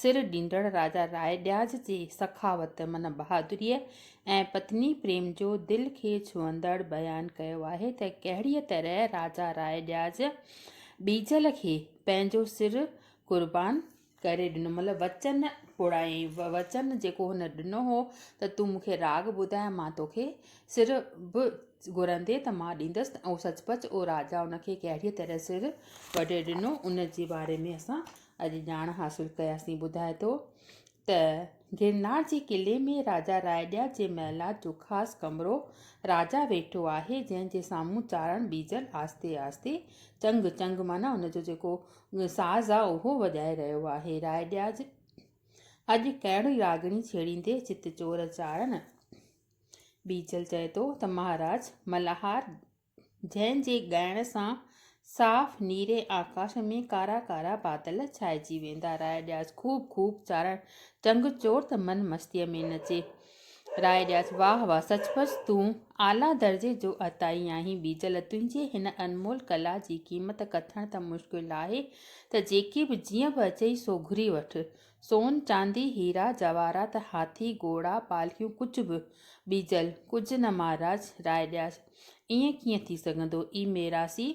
سر ڏيندڙ راجا راء ڏياز جي سخاوت من بهادريء ۽ پتني پريم جو دل کي ڇهندڙ بيان ڪيو آهي ته ڪهڙيء طرح راجا راء ڏياز ٻيجل کي پنهنجو سر قربان ڪري ڏنو مطلب وچن پڙائين وچن جيڪو هن ڏنو هو ته تون مون کي راڳ ٻڌاء مان توکي سر به گهرندي ته مان ڏيندس ته اهو سچ پچ اهو راجا ان کي ڪهڙيء طرح سر وڍي ڏنو ان جي باري ۾ اسان اڄ ڄاڻ حاصل ڪياسين ٻڌاء ٿو ته گرنار جي قلعي ۾ راجا رائيڏيا جي محلات جو خاص ڪمرو راجا ويٺو آهي جنهن جي سامهون چارڻ ٻيجل آهستي آهستي چنگ چنگ معنيٰ ان جو جيڪو ساز آهي اهو وڄائي رهيو آهي رائيڏيا اڄ ڪهڙي راڳڻي ڇيڙيندي چت چور چارڻ ٻيجل چئي ٿو ته مهاراج ملهار جنهن جي ڳائڻ سان صاف نيري آڪاش ۾ ڪارا ڪارا بادل ڇائجي ويندا. راء ڏياس خوب خوب چارڻ چنگ چور ته من مستيء ۾ نچي. راء ڏياس واهه واهه سچ پچ تون اعليٰ درجي جو عطائي آهين ٻيجل تنهنجي هن انمول ڪلا جي قيمت ڪٿڻ ته مشڪل آهي ته جيڪي به جيئن به اچئي سو گهري وٺ سون، چاندي، هيرا، جواهرات، هاٿي، گهوڙا، پالڪيون ڪجهه به ٻيجل ڪجهه نه مهاراج راء ڏياچ! ائين ڪيئن ٿي سگهندو؟ اي ميراثي!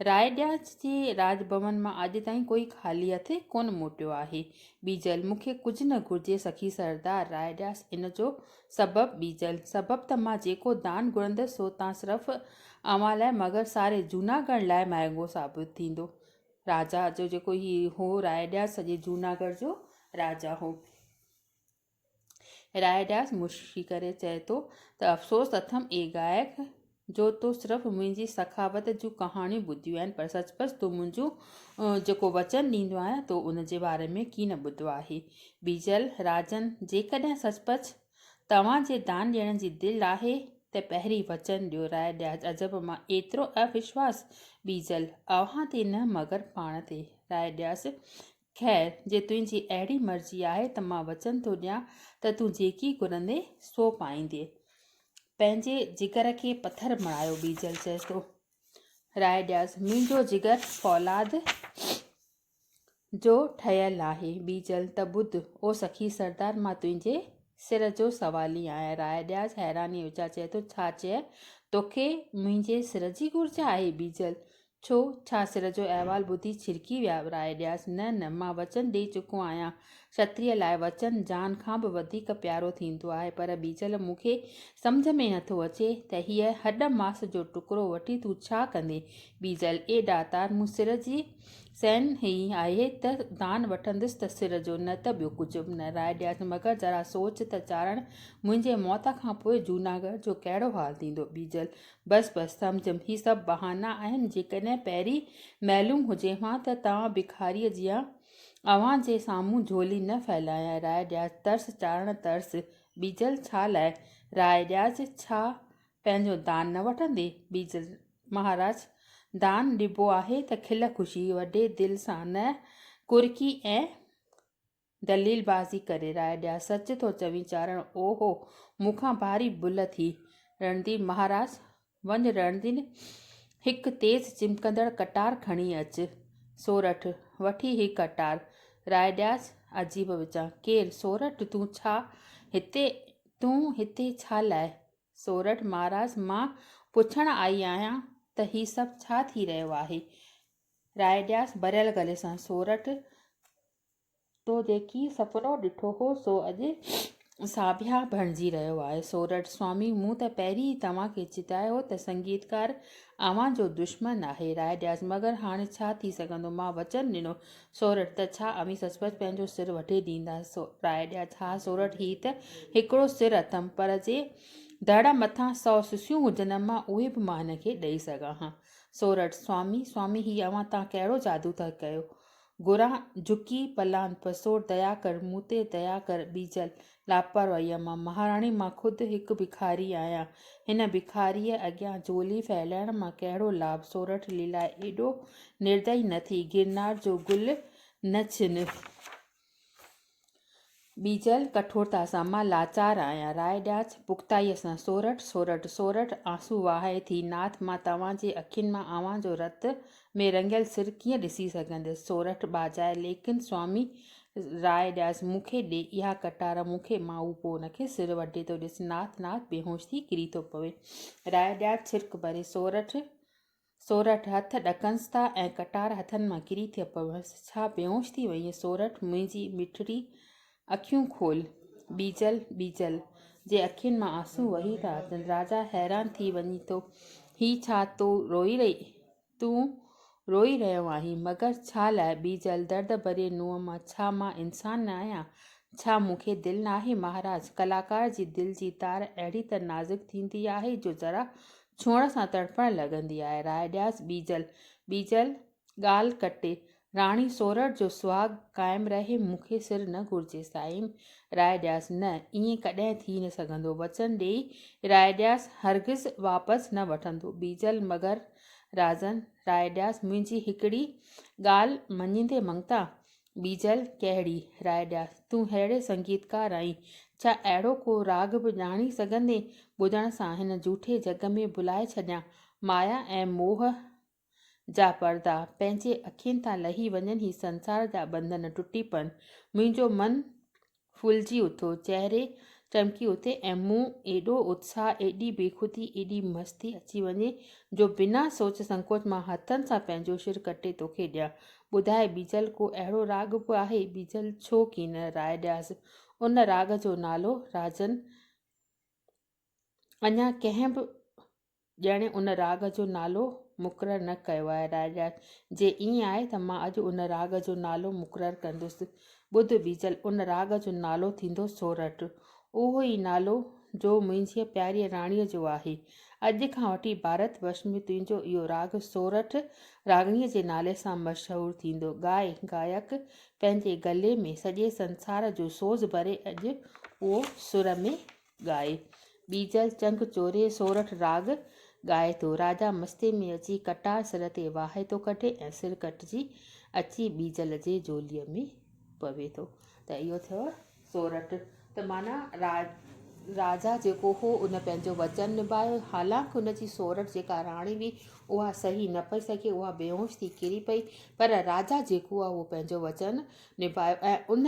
راء ڏياچ جي راڄ ڀون مان اڄ تائين ڪوئي خالي هٿ ڪونه موٽيو آهي. ٻيجل مون کي ڪجهه نه گهرجي سخي سردار راء ڏياچ ان جو سبب ٻيجل سبب ته مان جيڪو دان گهرندس سو تان صرف اوهان لاء مگر ساري جوناگڙهه لاء مهانگو ثابت ٿيندو. راجا جو جيڪو هي هو رائيڊاس سڄي جوناگڙ جو راجا هو. رائيڊاس مشڪي ڪري چئي ٿو ته افسوس اٿم اي گائڪ جو تو صرف منهنجي سخاوت جون ڪهاڻيون ٻڌيون آهن پر سچ پچ تون منهنجو جيڪو وچن ڏيندو آهيان تو ان جي باري ۾ ڪي نه ٻڌو آهي. بيجل، راجن جيڪڏهن سچ پچ توهان جي دان ڏيڻ جي دل آهي ته پهرين وچن ڏيو راء ڏيا عجب مان ايترو اوشواس ٻيجل اوهان تي نه مگر پاڻ تي راء ڏيس خير جي تنهنجي اهڙي مرضي آهي ته مان وچن ٿو ڏيان ته تون جيڪي گهرندين سو پائيندين پنهنجي جگر کي پٿر بڻايو ٻيجل چئي ٿو راء ڏيس منهنجو جگر فولاد جو ٺهيل آهي. ٻيجل، ته ٻڌ، او سخي سردار مان تنهنجي سر جو سوالي آهيان. راء ڏياس حيرانيء وچان چئي ٿو، ڇا چيئي؟ توکي منهنجي سر جي گهرج آهي؟ ٻيجل، ڇو، ڇا سر جو احوال ٻڌي ڇرڪي ويا؟ راء ڏياس، نه نه، مان وچن ڏيئي چڪو آهيان. کتريء لاء وچن جان کان به وڌيڪ پيارو ٿيندو آهي. پر ٻيجل، مون کي سمجهه ۾ نٿو اچي ته هيء هڏ ماس جو ٽڪرو وٺي تون ڇا ڪندين؟ ٻيجل، اي ڏاتار، مون سر جي. سين هي آهي ته دان وٺندس ته سر جو، نه ته ٻيو ڪجهه به نه راء ڏيانس، مگر ذرا سوچ ته چاڙهڻ، منهنجي موت کان پوء جوناگڙهه جو ڪهڙو حال ٿيندو؟ ٻيجل، بس بس، سمجهيم، هي سڀ بهانا آهن، جيڪڏهن پهرين معلوم هجيم ها ته توهان ڀکاريء جيان اوهان جي سامهون جهولي نه ڦهلايان، راء ڏيانس، ترس چاڙهڻ ترس، ٻيجل، ڇا لاء؟ راء ڏيانس، ڇا پنهنجو دان نه وٺندين؟ ٻيجل، مهاراج دان ڏبو آهي ته کل خوشي وڏي دل سان نه ڪرڪي ۽ دليل بازي ڪري راء ڏيان سچ ٿو چوين چارڻ او هو مون کان ڀاري بل ٿي رڻديپ مهاراج وڃ رڻدين هڪ تيز چمڪندڙ ڪٽار کڻي اچ سورٺ وٺي هي ڪٽار راء ڏياس عجيب وچان ڪير سورٺ تون ڇا هتي تون هتي ڇا لاء سورٺ مھاراج مان پڇڻ آئي آھيان ته ھي سڀ ڇا ٿي رھيو آھي؟ رائيڊياس ڀريل گلي سان، سورٺ تو جيڪي سپنو ڏٺو ھو سو اڄ ساڀيا بڻجي رھيو آھي. سورٺ، سوامي مون ته پهرين ئي توھان کي چتايو ته سنگيتڪار اوھان جو دشمن آھي. رائيڊياس، مگر ھاڻي ڇا ٿي سگهندو مان وچن ڏنو سورٺ، ته ڇا اوهين سچ پچ پنهنجو سر وڍي ڏيندا؟ سو، راء ڏيا ٿا سورٺ، هي ته هڪڙو سر اٿم، پر جي دڙ مٿان سؤ سسيون هجن امان، اهي به مان هن کي ڏئي سگهان ها. سورٺ، سوامي، سوامي، هي اوهان تان ڪهڙو جادو ٿا ڪيو؟ گران، جهڪي پلان پسور، ديا ڪر، مون تي ديا ڪر، ٻيجل، لاپرواهيء مان، مهاراڻي مان خود هڪ ڀکاري آهيان، هن ڀکاريء اڳيان جهولي ڦهلائڻ مان ڪهڙو لاڀ، سورٺ ليلا ايڏو نردئي نه ٿي، گرنار جو گل نه ڇن، ٻيجل ڪٺورتا سان مان لاچار آهيان، راء ڏيانس پختائيء سان، سورٺ سورٺ سورٺ آنسو وهائي ٿي، ناٿ مان توهان جي اکين مان اوهان جو رت ۾ رڱيل سر ڪيئن ڏسي سگهنديس؟ سورٺ ٻاجهائي، ليڪن سوامي راء ڏياس، مون کي ڏي اها ڪٽار، مون کي ماهو پوء ان کي سر وڍي ٿو ڏس، ناٿ ناٿ بيهوش ٿي ڪري ٿو پوي. راء ڏياس ڇرڪ ڀري، سورٺ، سورٺ، هٿ ڏڪنس ٿا ۽ ڪٽار هٿن مان ڪري ٿي پويس، ڇا بيهوش ٿي وئينء؟ سورٺ، منهنجي مٺڙي اکيون کول، ٻيجل، ٻيجل، جي اکين مان آنسو وهي ٿا اچن. راجا حيران ٿي وڃي ٿو، هي ڇا تون روئي رهي؟ تون روئي رهيو آهين، مگر ڇا لاء؟ ٻيجل، درد ڀريي نونهن مان، ڇا مان انسان نه آهيان؟ ڇا مون کي دل ناهي؟ مهاراج، ڪلاڪار جي دل جي تار اهڙي ته نازڪ ٿيندي آهي، جو ذرا ڇهڻ سان تڙڦڻ لڳندي آهي. راء ڏيانس ٻيجل، ٻيجل، ڳالهه ڪٽي راڻي سورهڙ جو سهاڳ قائم رهي مون کي سر نه گهرجي سائين راء ڏياس نه ائين ڪڏهن ٿي نه سگهندو وچن ڏيئي راء ڏياس هرگز واپس نه وٺندو بيجل مگر رازن راء ڏياس منهنجي هڪڙي ڳالهه مڃيندي منگتا بيجل ڪهڙي راء ڏياس تون ههڙي سنگيتڪار آهين ڇا اهڙو ڪو راڳ به ڄاڻي سگهندين ٻڌڻ سان هن جهوٺي جڳ ۾ ڀلائي ڇڏيان مايا ۽ موهه جا پردا پنهنجي اکين تان لهي وڃن هي سنسار جا ٻنڌن ٽٽي پون منهنجو من ڦولجي اٿيو چهري چمڪي اٿي ۽ مون ايڏو اتساهه ايڏي بيخودي ايڏي مستي اچي وڃي جو بنا سوچ سنڪوچ مان هٿن سان پنهنجو شر ڪٽي توکي ڏيان ٻڌاء بيجل ڪو اهڙو راڳ به آهي بيجل ڇو ڪين راء ڏياس ان راڳ جو نالو راجن اڃا ڪنهن به ڄڻي ان راڳ جو نالو مقرر نه ڪيو آهي. راء ڏيا جي ائين آهي ته مان اڄ ان راڳ جو نالو مقرر ڪندس. ٻڌ بيجل ان راڳ جو نالو ٿيندو سورٺ. اهو ئي نالو جو منهنجيء پياريء راڻيء جو آهي. اڄ کان وٺي ڀارت ورش ۾ تنهنجو اهو راڳ سورٺ راڳڻيء جي نالي سان مشهور ٿيندو. ڳائي ڳائڪ پنهنجي ڳلي ۾ سڄي سنسار جو سوز ڀري اڄ اهو سر ۾ ڳائي ٻيجل چنگ چوري سورٺ راڳ ڳائي ٿو. راجا مستي ۾ اچي ڪٽار سر تي واهي ٿو ڪڍي ۽ سر ڪٽجي اچي ٻيجل جي جهولي ۾ پوي ٿو ته اهو ٿيو سورٺ ته معنيٰ را راجا جيڪو هو ان پنهنجو وچن نباهيو حالانڪ ان جي سورٺ جيڪا راڻي هئي اها سهي نه پئي سگهي اها بيهوش ٿي ڪري پئي پر راجا جيڪو آهي اهو پنهنجو وچن نباهيو ۽ ان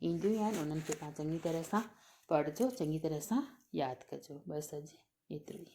اينديون ئي آهن انهن کي تهان چڱي طرح سان پڙهجو چڱي طرح سان ياد ڪجو بس اڄ ايترو ئي.